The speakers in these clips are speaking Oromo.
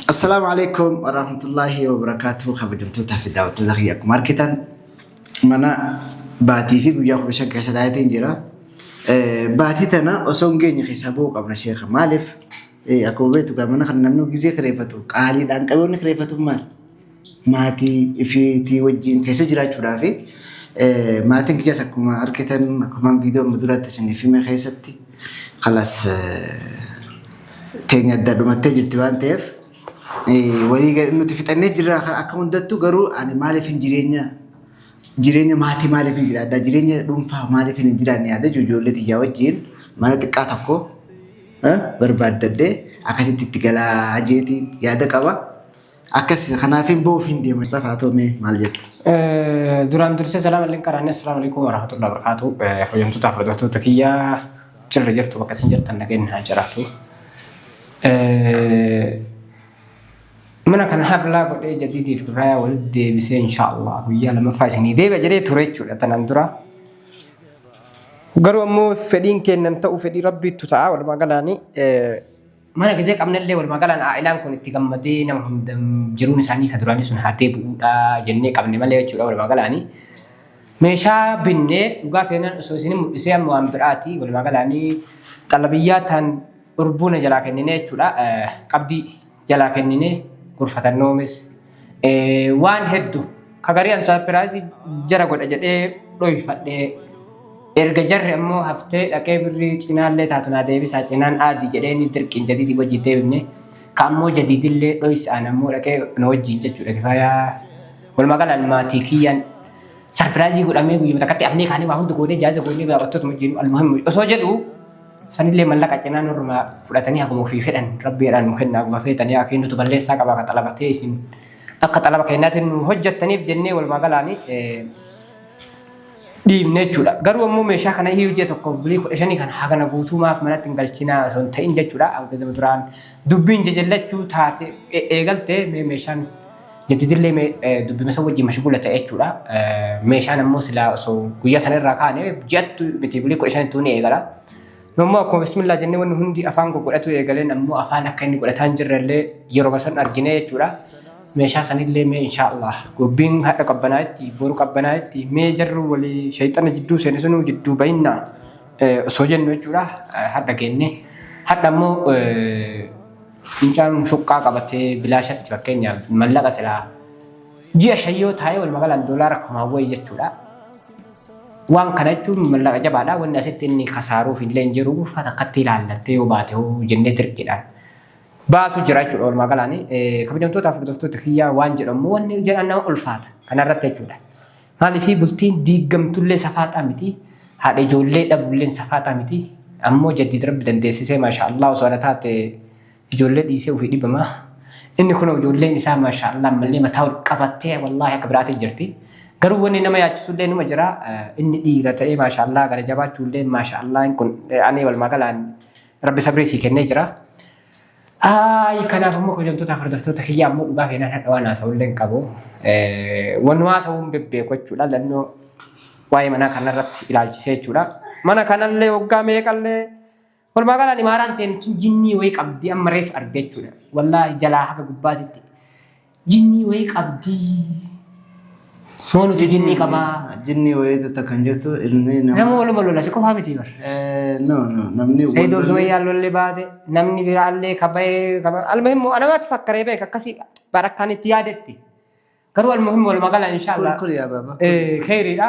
Assalaamu alaikum warahmatullaahi wabarakaatuhu kabajamtootaa fi daawwattoota kiyya akkuma argitan mana baatii fi guyyaa kudha shan keessa taa'eetiin jira. Eh, Baatii tana osoo hin geenye keessaa ba'uu qabna sheeka maaliif eh, akkuma beektu gaa mana kana namni gizee kireeffatu qaaliidhaan qabeenya kireeffatuuf maal? maatii ifiitii wajjin keessa jiraachuudhaa fi maatiin kiyyaas akkuma argitan akkumaan viidiyoo amma duraatti isiniif hime keessatti kalas teenya adda dhumattee jirti waan ta'eef walii gad- nuti fixannee jirra kan akka hundattuu garuu ani maaliif hin jireenya jireenya maatii maaliif hin jiraadha jireenya dhuunfaa maaliif hin jiraanne yaada ijoollee tiyyaa wajjin mana xiqqaa tokko eh, barbaaddadhee akkasitti itti galaa jeetiin yaada qaba. Akkasi kanaaf hin ba'uuf hin deema. Safaa ta'u mee maal jette? Duraan dursee salaam alaikum qaraanne assalamu alaikum warahmatullahi wabarakatuh. Hojjamtoota hordoftoota kiyya jirra jirtu bakka isin jirtan nageenyi haa jiraatu. Mana kana hablaa godhee jadiidii fi raayaa walitti deebisee inshaallah guyyaa lamaffaa isinii deebi'a jedhee ture jechuudha tanan dura. Garuu ammoo fedhiin keennan ta'u fedhii rabbiittu ta'a walumaa galaanii. Mana gizee qabnellee walumaa galaan aa'ilaan kun itti gammadee nama hunda jiruun isaanii ka duraanii sun haa deebi'uudha jennee qabne malee jechuudha walumaa galaanii. Meeshaa binnee dhugaa feenaan osoo isin mul'isee amma waan biraati walumaa galaanii xalabiyyaa taan urbuuna jalaa kenninee jechuudha qabdii jalaa kenninee gurfatannoomis Waan heddu ka garii an saapiraayizii jara godha jedhee dhoyfadhee erga jarri ammoo haftee dhaqee birrii cinaallee taatu naa deebisaa cinaan aadii jedheenii dirqiin jadiidii wajjiin deebifne ka ammoo jadiidillee dhoysaan ammoo dhaqee na wajjiin jechuudha kifaayaa walumaa galaan maatii kiyyaan sarpiraayizii godhamee guyyuma takkatti afnee kaanee waa hundi goonee jaaza goonee gaabattootuma wajjiin almuhimmi osoo jedhu sanillee mallaqa cinaa nurruma fudhatanii haguma ofii fedhan rabbiidhaan nu kenna haguma feetan yaa kennutu balleessaa qaba akka xalabatee isin akka xalaba kennaatiin nu hojjettaniif jennee walumaa galaanii dhiibne jechuudha. Garuu ammoo meeshaa kana iyyuu ji'a tokkoof bulii kudha shanii kana hagana guutuumaaf manatti hin galchinaa osoo hin ta'in jechuudha. Akkuma duraan dubbiin jajallachuu taate eegalte meeshaan Jaddidillee mee eh, dubbima san wajjin mashguula ta'e jechuudha. Eh, Meeshaan ammoo silaa osoo guyyaa sana irraa kaane ji'attu miti bulii kudha shanittuu ni eegala. Nu ammoo akkuma bismillaa jennee wanni hundi afaan koo godhatu eegaleen ammoo afaan akka inni godhataa hin jirrellee yeroo san argine jechuudha. Meeshaa sanillee mee inshaallah gobbiin hadha qabbanaa itti boru qabbanaa itti mee jarru walii shayxana jidduu seene sunuu jidduu bayinnaa eh, osoo jennu jechuudha. Eh, Hadha geenne. Hadha ammoo eh, Mucaan shuqqaa qabatee bilaashatti fakkeenyaaf mallaqa silaa ji'a shan yoo taa'ee walumaa galaan doolaara kumaan wayii jechuudha. Waan kana jechuun mallaqa jabaadha. Wanni asitti inni kasaaruuf illee hin jiru. Uffata akkatti ilaallattee yoo baate hoo jennee dirqiidhaan baasu jira jechuudha walumaa galaan. Kabajamtoota hordoftoota kiyyaa waan jedhamu wanni jedhan nama ulfaata kanarratti jechuudha. Maaliifii bultiin diiggamtullee safaaxaa miti, haadha ijoollee dhabulleen safaaxaa miti. Ammoo jaddiid rabbi dandeessisee maasha Allah osoo ana taate ijoollee dhiisee ufii dhibama. Inni kunoo ijoolleen isaa maasha Allah ammallee mataa ol qabattee wallaahi akka biraatii jirti. Garuu wanni nama yaachisullee numa jira inni dhiira ta'ee maasha Allah gara jabaachuullee maasha Allah kun ani walumaa galaan rabbi sabrii sii kennee jira. Ayi kanaaf ammoo kabajamtootaaf hordoftoota kiyya ammoo dhugaa keenan hadha waan haasa'ullee hin qabu. Waan nu haasa'uun bebbeeku jechuudha. Lannoo waa'ee manaa kanarratti ilaalchisee jechuudha. Mana kanallee waggaa meeqallee walumaa galaan imaaraan ta'een tun jinnii wayii qabdi amma reef arge jechuudha. Wallaahi jalaa haga gubbaatitti Jinnii wayii qabdii. Moo nuti jinnii qabaa? Jinnii wayii tutta kan jirtu ilmi nama. Nama waluma lola si qofaa miti bar. Eh, No, no, namni wal Sayyidoo lolli- Zumayyaa lolli baate namni biraallee kabayee kaba almuhim moo anamatti fakkaree beek akkasii barakkaan itti yaadetti. Garuu almuhim walumaa gala Kul inshaallah. kul yaa baaba. Eh, Kheyriidha.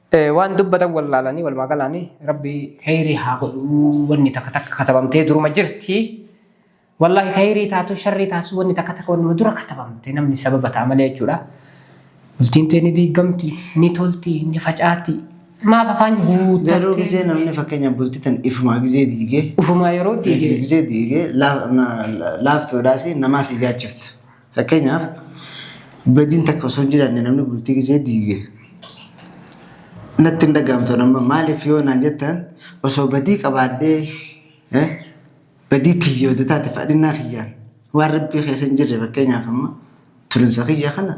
Waan dubbatan wallaalanii walumaa galaanii rabbi khayrii haa godhuu wanni takka takka katabamtee duruma jirti. Wallaahi khayrii taatu sharrii taatu wanni takka takka wannuma dura katabamte namni sababa ta'a malee jechuudha. Bultiin tee ni diigamti, ni tolti, ni facaati. Maaf afaan guuttattee. Garuu gizee namni fakkeenya bultii tan ifumaa gizee diigee. Ufumaa yeroo diigee. Gizee diigee laaftoodhaas namaa si jaachiftu. Fakkeenyaaf badiin takka osoo hin jiraanne namni bultii gisee diige natti hin dhaga'amtu amma maaliif yoo naan jettan osoo badii qabaadhee eh, badii tiyya oduu taate fadhinnaa kiyyaan waan rabbii keessa hin jirre fakkeenyaaf amma turinsa kiyya kana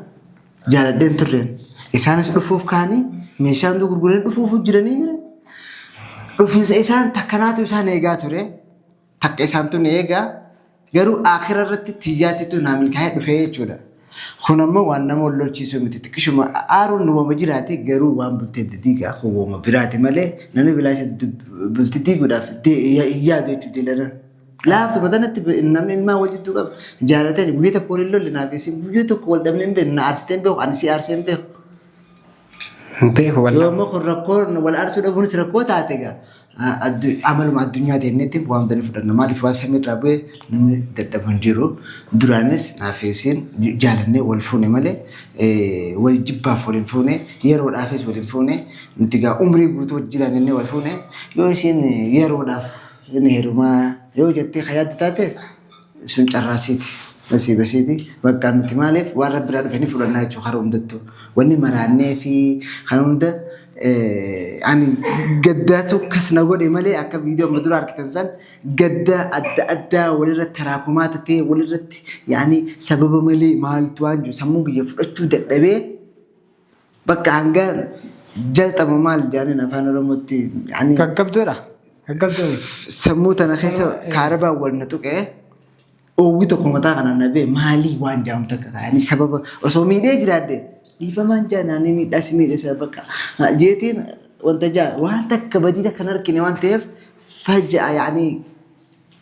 jaaladheen turreen isaanis dhufuuf kaanii meeshaa hunduu gurguranii dhufuuf jiranii mire dhufiinsa isaan takkanaatu isaan eegaa ture. Takka isaan tun eega garuu aakhira irratti tiyyaatitu naa milkaa'ee dhufee jechuudha. Kun ammoo waan nama wal lolchiisuu miti. Xiqqishuma aaruun nu wama jiraate garuu waan bultee adda diigaa kun wama biraati malee namni bilaasha bulti diiguudhaaf de- ya- hin yaadu jechuudha diilanan. Laaftu matanatti namni ilmaan wal jidduu qabu jaalatee guyyaa tokko wal hin lolle naaf isin guyyaa tokko wal dhabnee hin beeknu na aarsitee hin beeku ani si aarsee hin beeku. Hin beeku Yoo wallah. immoo kun rakkoo wal aarsuu dhabuunis rakkoo taate egaa a- addu- amaluma addunyaa ta'innetti waan bani fudhanna maaliif waan samii irraa bu'e namni dadhabu hin jiru duraanis naafeesiin jaalannee wal fuune malee eh, wal jibbaaf wal hin fuune yeroodhaafis wal hin fuune nuti egaa umrii guutuu wajjin jiraannee wal fuune yoo isheen yeroodhaaf hin heerumaa yoo jettee kan yaaddu taates Sun carraa siiti. Nasiiba siiti. Bakka nuti maaliif waan rabbi irraa dhufe ni fudhannaa jechuudha karaa hundattuu. Wanni maraannee fi kan hunda ani gaddaatu kas na godhe malee akka viidiyoo amma dura argitan san gadda adda addaa walirratti taraakumaa tatee walirratti yaani sababa malee maaltu waan jiru sammuu kiyya fudhachuu dadhabee Bakka hanga jalqaba maal jedhaniin afaan oromootti ani Gaggabdoodha. Gaggabdoo miti. sammuu tana keessa kaarabaan wal na tuqee oowwi tokko mataa kana na bee maalii waan jedhamu takka kaa'anii sababa osoo miidhee jiraadde dhiifamaan jaa naannoo miidhaa si miidhe sana bakka jeetiin wanta jaa waan takka badii takka hin argine waan ta'eef faja'a yaanii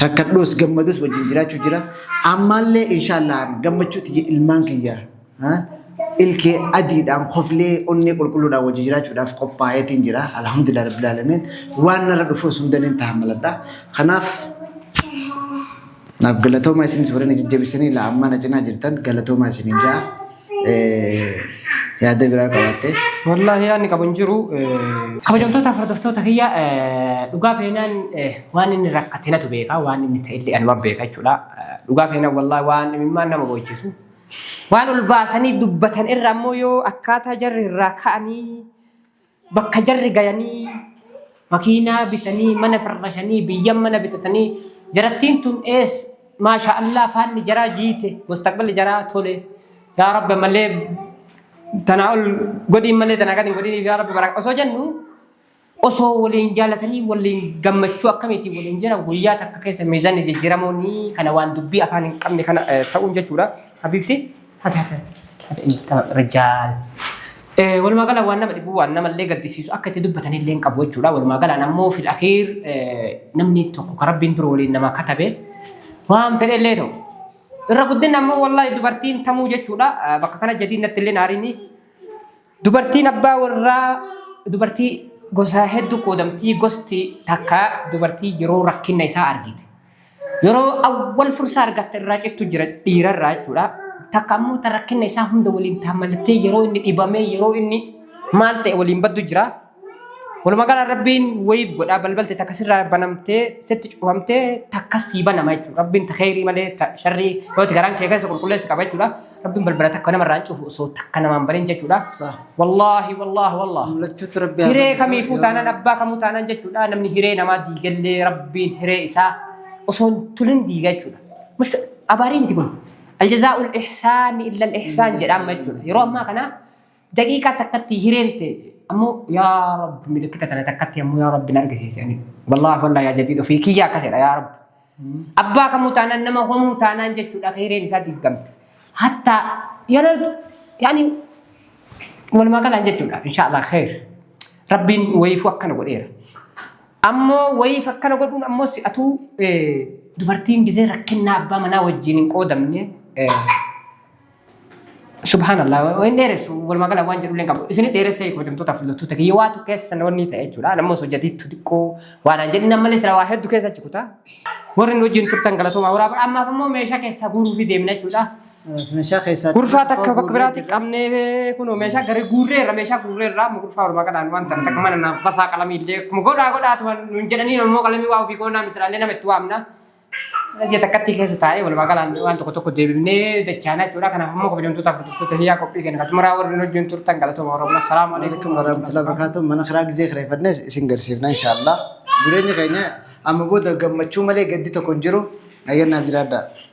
rakkadhuus gammadus wajjin jiraachuu jira. Ammaallee inshaallah gammachuutti jira ilmaan kiyya. Ilkee adiidhaan koflee onnee qulqulluudhaan wajjin jiraachuudhaaf qophaa'eetiin jira. Alhamdulillah Rabbil Aalamiin. Waan narra dhufuus hundaniin tahammaladha. Kanaaf Naaf galatoomaa isinis warri na jajjabistanii laa ammaa na cinaa jirtan galatoomaa isiniin ja'a. Yaada biraa qabaattee? Wallaahi yaadni qabu hin jiru. Kabajamtoota hordoftoota kiyya dhugaa feenaan waan inni rakkate natu beeka waan inni ta'ellee anuma beeka jechuudha. Dhugaa feenaan wallaahi waan imimmaan nama boochisu. Waan ol baasanii dubbatan irra ammoo yoo akkaataa jarri irraa ka'anii Bakka jarri gayanii makiinaa bitanii mana firrashanii biyyan mana bitatanii jarattiin tun ees maasha Allah faanni jaraa jiite mustaqballi jaraa tole yaa rabbi malee tanaa ol godhiin malee tanaa gadi hin godhiniif yaa rabbi baraka osoo jennu osoo waliin jaalatanii waliin gammachuu akkamiitiin waliin jira guyyaa takka keessa miizanni jijjiiramuun kana waan dubbii afaan hin qabne kana eh, ta'uun jechuudha habiibti. rijaal. Walumaa gala waan nama dhibu waan namallee gaddisiisu akka itti dubbatan illee hin qabu jechuudha. Walumaa galaan ammoo fil akhiir namni tokko kan rabbiin dura waliin nama katabe waan fedhe illee ta'u. Irra guddinni ammoo wallahi dubartiin tamuu jechuudha. Bakka kana jadiin natti illee naariini. Dubartiin abbaa warraa dubartii gosaa hedduu qoodamtii gosti takka dubartii yeroo rakkinna isaa argite. Yeroo awwal fursaa argatte irraa cittu jira dhiira irraa jechuudha. Takka ammoo ta rakkinna isaa hunda waliin taammallattee yeroo inni dhibamee yeroo inni maal ta'e waliin baddu jira. Walumaa galaan rabbiin wayiif godhaa balbalte takka sirraa banamtee sitti cufamtee takka sii banama jechuudha. Rabbiin ta kheyrii malee ta sharrii yoo itti garaan kee keessa qulqulleessi qaba jechuudha. Rabbiin balbala takka namarraa hin cufu osoo takka namaan banin jechuudha. Saah. Wallaahi wallaahi wallaahi. Mul'achuutu rabbi Hiree amansiisa. kamiifuu taanaan abbaa kamuu taanaan jechuudha. Namni hiree namaa diigallee rabbiin hiree isaa osoo hin tulin diiga jechuudha. Mush abaarii miti kun. Aljazaa'ul ihsaani illal ihsaan jedhaama jechuudha. Yeroo ammaa kana daqiiqaa takkatti hireen ta'e ammoo yaa rabbi milikkita tana takkatti ammoo yaa rabbi na argisiise ani wallaahi wallaahi yaa jadiid ofii kiyyaa akkasidha yaa rabbi abbaa kamuu taanaan nama homuu taanaan jechuudha akka hireen isaa diigamte hatta yeroo yaani walumaa galaan jechuudha inshaallah kheer rabbiin wayiifuu akkana godheera ammoo wayiif akkana godhuun ammoo si'atuu eh, dubartiin gizee rakkinnaa abbaa manaa wajjin hin qoodamne eh, Subhanallah hin dheeressu walumaa gala waan jedhullee hin qabu isin dheeressee kabajamtoota filattoota kiyya waa tokko keessa namoonni ta'e jechuudha namni osoo jadiitu xiqqoo waan hin jedhin ammallee sila waa hedduu keessa achi kutaa warri nu wajjin turtan galatoomaa waraa bara ammaaf immoo meeshaa keessaa guuruu fi deemna jechuudha. Meeshaa keessaa Gurfaa takka bakka biraatti qabnee kunoo meeshaa gari guurree irra meeshaa guurree irraa amma gurfaa walumaa galaan waan ta'an takka mana naaf gafaa qalamii illee akkuma godhaa godhaa turan nuun jedhanii immoo qalamii waa ofii goonaa misiraallee nama itti waamna. Ji'a takkatti keessa taa'ee walumaa galaan waan tokko tokko deebifnee dachaanaa jechuudha. Kanaaf immoo kabajamtootaaf hordoftoota hiyyaa qophii kenna. Katumaraa warri wajjin turtan galatooma Oromoo. Salaamu alaikum warahmatullahi wabarakatuh. Mana kiraa gizee kireeffannes isin garsiifna inshaallah. Jireenyi keenya amma booda gammachuu malee gaddi tokko hin jiru. Nageenyaaf jiraadhaa.